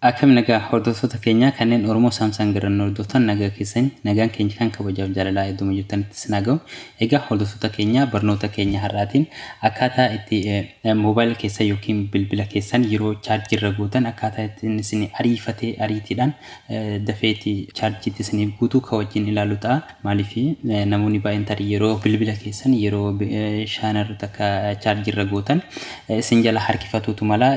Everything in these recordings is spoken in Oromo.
Akkam nagaa hordoftoota keenyaa kanneen Oromoo Saamsaan Garran hordoftan nagaa keessanii nagaan keenya kan kabajaaf jaalalaa iddoo jirtanitti isin haa ga'u. Egaa hordoftoota keenyaa barnoota keenya har'aatiin akkaataa itti moobaayila keessan yookiin bilbila keessan yeroo chaarjii irra gootan akkaataa ittiin isin ariifatee ariitiidhaan dafeeti charge ti isiniif guutu ka wajjin ilaalu ta'a maaliif namoonni baay'een tarii yeroo bilbila keessan yeroo shaanarra takka charge irra gootan isin jala harkifatuutu mala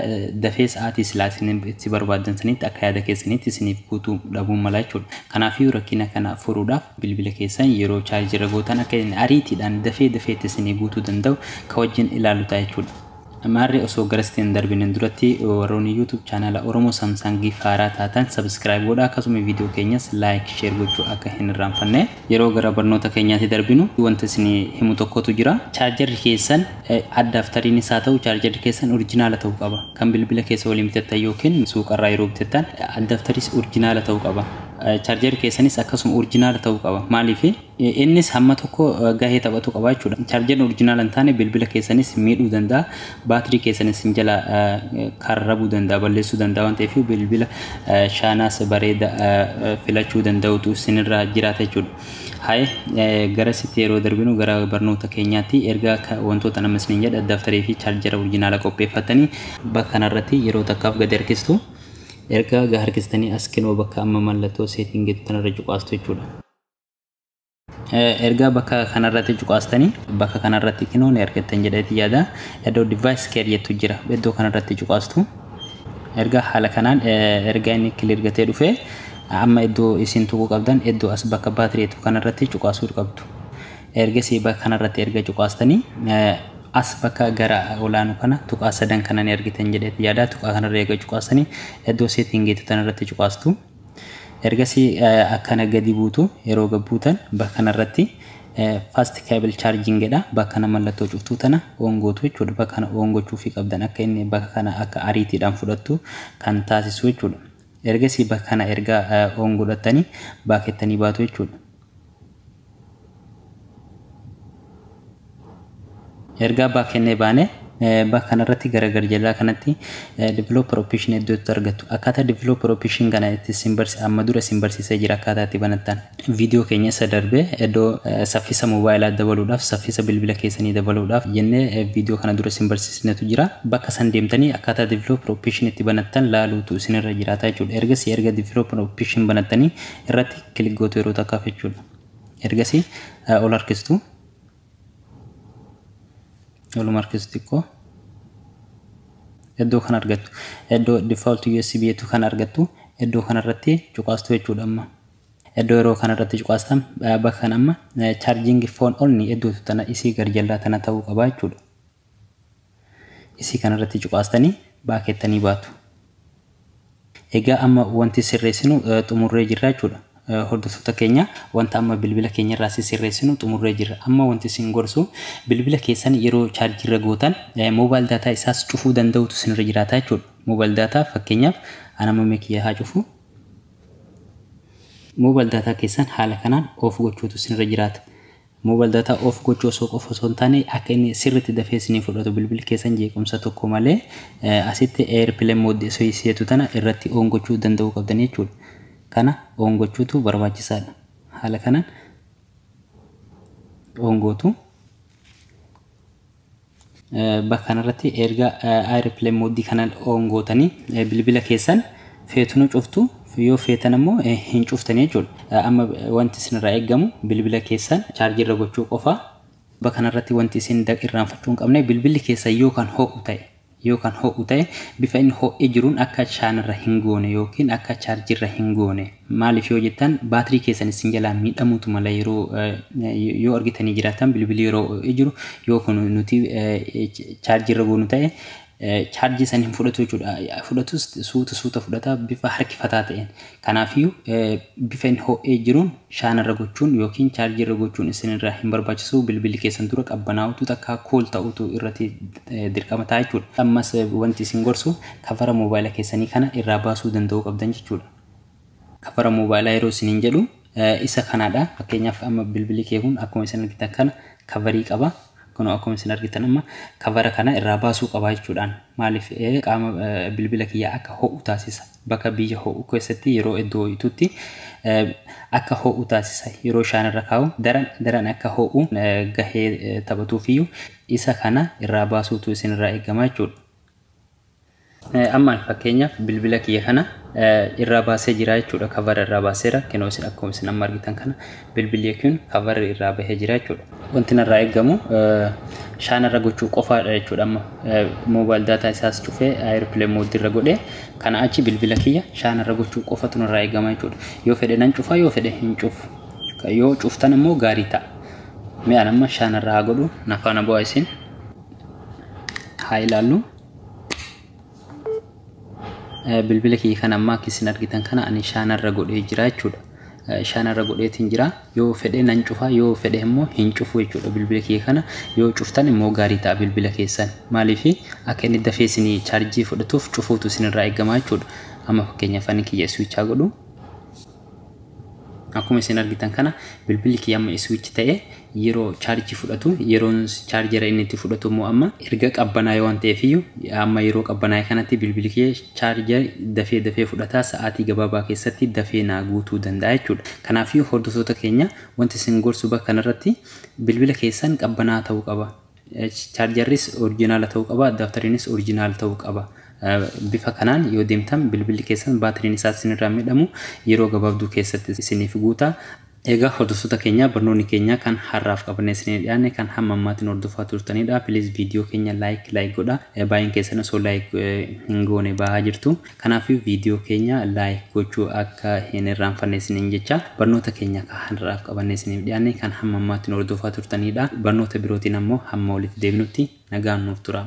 dafee sa'aatii silaa isin itti barbaaddan sanitti akka yaada keessanitti isiniif guutu dhabuun mala jechuudha kanaafiyyuu rakkina kana furuudhaaf bilbila keessan yeroo charge irra gootan akka ariitiidhaan dafee dafeetti isinii guutuu danda'u ka wajjin ilaalu ta'a jechuudha. Maarree osoo garasitti hin darbine duratti warroonni YouTube chaanaala Oromoo Samsangiif haaraa taatan subscribe godhaa akkasuma viidiyoo keenyas like share gochuu akka hin irraanfanne. Yeroo gara barnoota keenyaatti darbinu wanta isin himu tokkotu jira. Chaarjarri keessan addaaptariinis haa ta'u chaarjarri keessan orijinaala ta'uu qaba. Kan bilbila keessa waliin bitattan yookiin suuqarraa yeroo bitattan addaaptariis orijinaala ta'uu qaba. Chaarjarri keessanis akkasuma orijinaala ta'uu qaba. Maaliif? Innis hamma tokko gahee taphatu qaba jechuudha. Chaarjeriin orijinaala hin taane bilbila keessanis miidhuu danda'a. Baatirii keessan isin jalaa karrabuu danda'a, balleessuu danda'a waan ta'eef bilbila shaanaas bareeda filachuu danda'utu isinirra jiraata jechuudha. Haye garasitti yeroo darbinu gara barnoota keenyaatti erga wantoota nama isiniin jedha daftarii fi chaarjera orijinaala qopheeffattanii bakka kanarratti yeroo takkaaf gadi harkistu. Erga harkistanii as kinoo bakka amma mallattoo seetiin jettu kanarra cuqaastu jechuudha. ergaa bakka kanarratti cuqaastanii bakka kanarratti kinoo ni argattan jedheeti yaada iddoo device care jettu jira iddoo kanarratti cuqaastu ergaa haala kanaan ergaa inni kilir gatee dhufee amma iddoo isin tuquu qabdan iddoo as bakka baatirii jettu kanarratti cuqaasuu qabdu ergasii bakka kanarratti erga cuqaastanii as bakka gara olaanu kana tuqaa sadan kana ni argitan jedheeti yaada tuqaa kanarra eega cuqaastanii iddoo seetingiitu tanarratti cuqaastu Ergasii akkana gadi buutu yeroo gad buutan bakka kanarratti fast cable charging jedha bakka kana mallattoo cuftuu tana on gootu jechuudha bakka kana on gochuufii qabdan akka inni bakka kana akka ariitiidhaan fudhattu kan taasisu jechuudha ergasii bakka kana erga on godhattanii baakettanii baatu jechuudha ergaa back kennee baane bakka kanarratti gara gar jalaa kanatti developer option iddootti argattu akkaataa developer option kana itti isin barsi amma dura isin barsiisee jira akkaataa itti banattan viidiyoo keenya isa darbe iddoo saffisa moobaayilaa dabaluudhaaf saffisa bilbila keessanii dabaluudhaaf jennee viidiyoo kana dura isin barsiisnetu jira bakka san deemtanii akkaataa developer option itti banattan laaluutu isinirra jiraata jechuudha ergasii erga developer option banattanii irratti kilik gootu yeroo takkaaf jechuudha. Ergasii ol harkistu. Oluma harkistu xiqqoo. Iddoo kan argattu. Iddoo default USB jettu kan argattu. Iddoo kanarratti cuqaastu jechuudha amma. Iddoo yeroo kanarratti cuqaastan bakka kan amma charging phone only iddootu tana isii garjallaa tana ta'uu qaba jechuudha. Isii kana irratti cuqaastanii baakeettanii baatu. Egaa amma wanti sirreessinu xumurree jirra jechuudha. Hordoftoota keenya wanta amma bilbila keenya irraa si sirreessinu xumurree jirra. Amma wanti isin gorsu bilbila keessan yeroo chaarjii irra gootan moobaayil daataa isaas cufuu danda'utu isinirra jiraata jechuudha. Moobaayil daataa fakkeenyaaf an amma mee kiyya haa cufu. Moobaayil daataa keessan haala kanaan off gochuutu isinirra jiraata. Mobile data off gochuu osoo qofa osoo hin taane akka inni sirriitti dafee isinii fudhatu bilbilli keessan jeequmsa tokko malee asitti airplane mode isin jettu tana irratti on gochuu danda'uu qabdanii jechuudha. Kana on gochuutu barbaachisaadha. Haala kanaan on gootu. Bakka kanarratti erga airplane mode kana on gootanii bilbila keessan feetunu cuftu yoo feetan ammoo hin cuftanii jechuudha. Amma wanti isinirraa eegamu bilbila keessan chaarjii irra gochuu qofa. Bakka kanarratti wanti isin irraanfachuu hin qabne bilbilli keessan yoo kan ho'u ta'e Yoo kan ho'u ta'e bifa inni ho'ee jiruun akka chaanirra hin goone yookiin akka chaarjirra hin goone. Maaliif yoo jettan baatirii keessan isin jalaa miidhamuutu mala yeroo yoo argitanii jiraattan bilbilii yeroo ho'ee jiru yoo kun nuti chaarjirra goonu ta'e chaarjii san hin fudhatu jechuudha. Fudhatus suuta suuta fudhata bifa harkifataa ta'een. Kanaafiyyuu, bifa inni ho'ee jiruun shaana irra gochuun ykn chaarjii irra gochuun isin irraa hin barbaachisu. Bilbilli keessan dura qabbanaa'utu takkaa cool ta'utu irratti dirqama ta'a jechuu dha. Ammas wanti isin gorsu kavara mobaayila keessanii kana irraa baasuu danda'uu qabdan jechuu dha. Kavara mobaayilaa yeroo isiniin jedhu Isa kanadha. Fakkeenyaaf amma bilbili kee kun akkuma isin argitan kana kavarii qaba. Kunoo akkuma isin argitan amma kavara kana irraa baasuu qaba jechuudhaan. Maaliif qaama bilbila kiyya akka ho'u taasisa. Bakka biyya ho'u keessatti yeroo iddoo ho'itutti akka ho'u taasisa. Yeroo shaan irra kaa'u daran daran akka ho'u gahee taphatuufiyyuu isa kana irraa baasuutu isin irraa eegama jechuudha. Amma ani fakkeenyaaf bilbila kiyya kana irraa baasee jira jechuudha. Kavara irraa baaseera. Kinoo isin akkuma isin amma argitan kana bilbilli kun kavarri irraa bahee jira jechuudha. Wanti narraa eegamu shaan irra gochuu qofaadha jechuudha. Amma moobaayil daataa isaas cufee aayirpilee moodii irra godhee kana achi bilbila kiyya shaan irra gochuu qofatu narraa eegama jechuudha. Yoo fedhe nan cufa yoo fedhe hin cufu. Yoo cuftan immoo gaarii ta'a. Mi'aan amma shaan irra haa godhu. Nafaana bu'aa isin haa ilaallu. bilbila kiyya kan ammaa akka isin argitan kana ani shaanarra godhee jira jechuudha. Shaanarra godheetiin jira yoo fedhe nan cufa yoo fedhe immoo hin cufu jechuudha bilbila kiyya kana yoo cuftan immoo gaarii ta'a bilbila keessan maaliif akka inni dafee isin chaarjii fudhatuuf cufuutu isinirraa eegama jechuudha. Amma fakkeenyaaf ani kiyya iswichaa godhu. Akkuma isin argitan kana bilbilli kiyya amma switch ta'e yeroo chaarjii fudhatu yeroon chaarjera inni itti fudhatu immoo amma erga qabbanaa'e waan ta'eef iyyuu amma yeroo qabbanaa'e kanatti bilbilli kiyya chaarjeri dafee dafee fudhata sa'aatii gabaabaa keessatti dafee naa guutuu danda'a jechuudha. Kanaaf iyyuu hordoftoota keenya wanti isin gorsu bakka kanarratti bilbila keessan qabbanaa ta'uu qaba. Chaarjarris orijinaala ta'uu qaba, addaaptariinis orijinaal ta'uu qaba. Bifa kanaan yoo deemtan bilbilli keessan baatiriin isaa isinirraa midhamu yeroo gabaabduu keessatti isiniif guuta. Egaa hordoftoota keenya barnoonni keenya kan har'aaf qabannee isinii dhiyaanne kan hamma ammaatiin hordofaa turtanidha. Please viidiyoo keenya like like godha. Baay'een keessan osoo like hin goone ba'aa jirtu. Kanaafuu video keenya like gochuu akka hin irraanfanne isiniin jecha. Barnoota keenya ka har'aaf qabannee isiniif dhiyaanne kan hamma ammaatti nu hordofaa turtaniidha. Barnoota birootiin ammoo hamma walitti deebinutti nagaan nuuf turaa.